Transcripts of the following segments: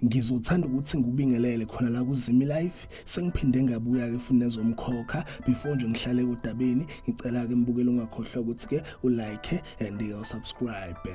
ngizothanda ukuthi ngikubingelele khona la kuzimi life sengiphinde ngabuya ke futhi nezomkhokha before nje ngihlale kodabeni ngicela ke mbukele ungakhohlwa ukuthi ke ulike and usubscribe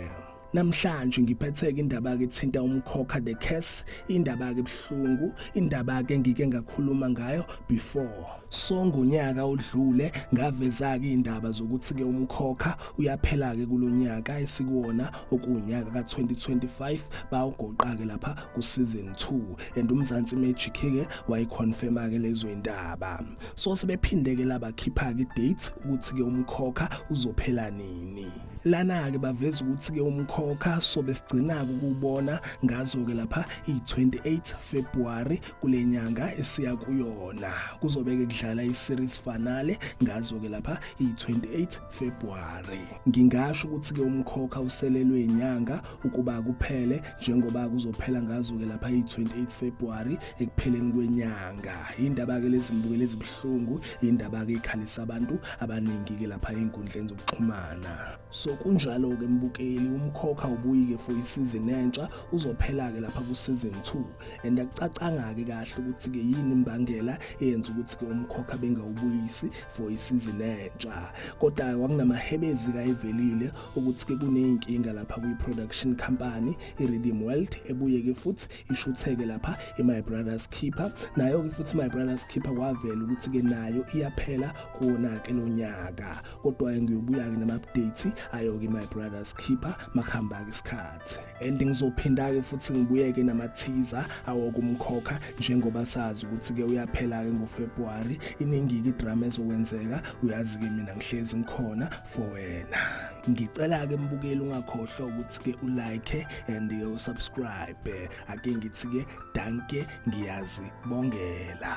Namhlanje ngiphetheke indaba ke thinta umkhokha the curse indaba ke buhlungu indaba ke ngike ngakhuluma ngayo before so ngonyaka odlule ngaveza ke indaba zokuthi ke umkhokha uyaphela ke kulonyaka esikuwona okunyaka ka2025 bawugoqa ke lapha ku season 2 and umzansi magic ke wayiconfirma ke lezo indaba so sebephinde ke labakhipha ke date ukuthi ke umkhokha uzophela nini lana-ke baveza ukuthi-ke umkhokha sobe sigcina-ke ukuwubona ngazo-ke lapha iyi-28 februwari kule nyanga esiya kuyona kuzobe-ke kudlala i-series fanale ngazo-ke lapha iyi-28 februwari ngingasho ukuthi-ke umkhokha uselelwe inyanga ukuba kuphele njengoba kuzophela ngazo-ke lapha iyi-28 februwari ekupheleni kwenyanga yindaba-ke lezi mbukelo ezibuhlungu Hlungu indaba ke ikhalisa abantu abaningi ke lapha ezinkundleni zokuxhumana. So kunjalo ke mbukeli umkhokha ubuyike for isizini entsha uzophela ke lapha ku season 2 and akucacanga ke kahle ukuthi ke yini imbangela eyenza ukuthi ke umkhokha bengawubuyisi for isizini entsha. Kodwa kwakunamahebezi kayivelile ukuthi ke kuneyinkinga lapha kwi production company i Rhythm World ebuye ke futhi ishutheke lapha i-my brothers keeper nayo-ke futhi my brothers keeper kwavela ukuthi-ke nayo iyaphela kuwona-ke lo nyaka kodwa-ke ngiyobuya-ke nama-update ayo-ke my brothers keeper makuhamba-ke isikhathi and ngizophinda-ke futhi ngibuyeke namathiza awokumkhokha njengoba sazi ukuthi-ke uyaphela-ke ngofebruwari iningi-ke idrama ezokwenzeka uyazi-ke mina ngihlezi ngikhona for wena ngicela ke mbukeli ungakhohlwa ukuthi ke ulike and ke usubscribe ake ngithi ke danke ngiyazi bongela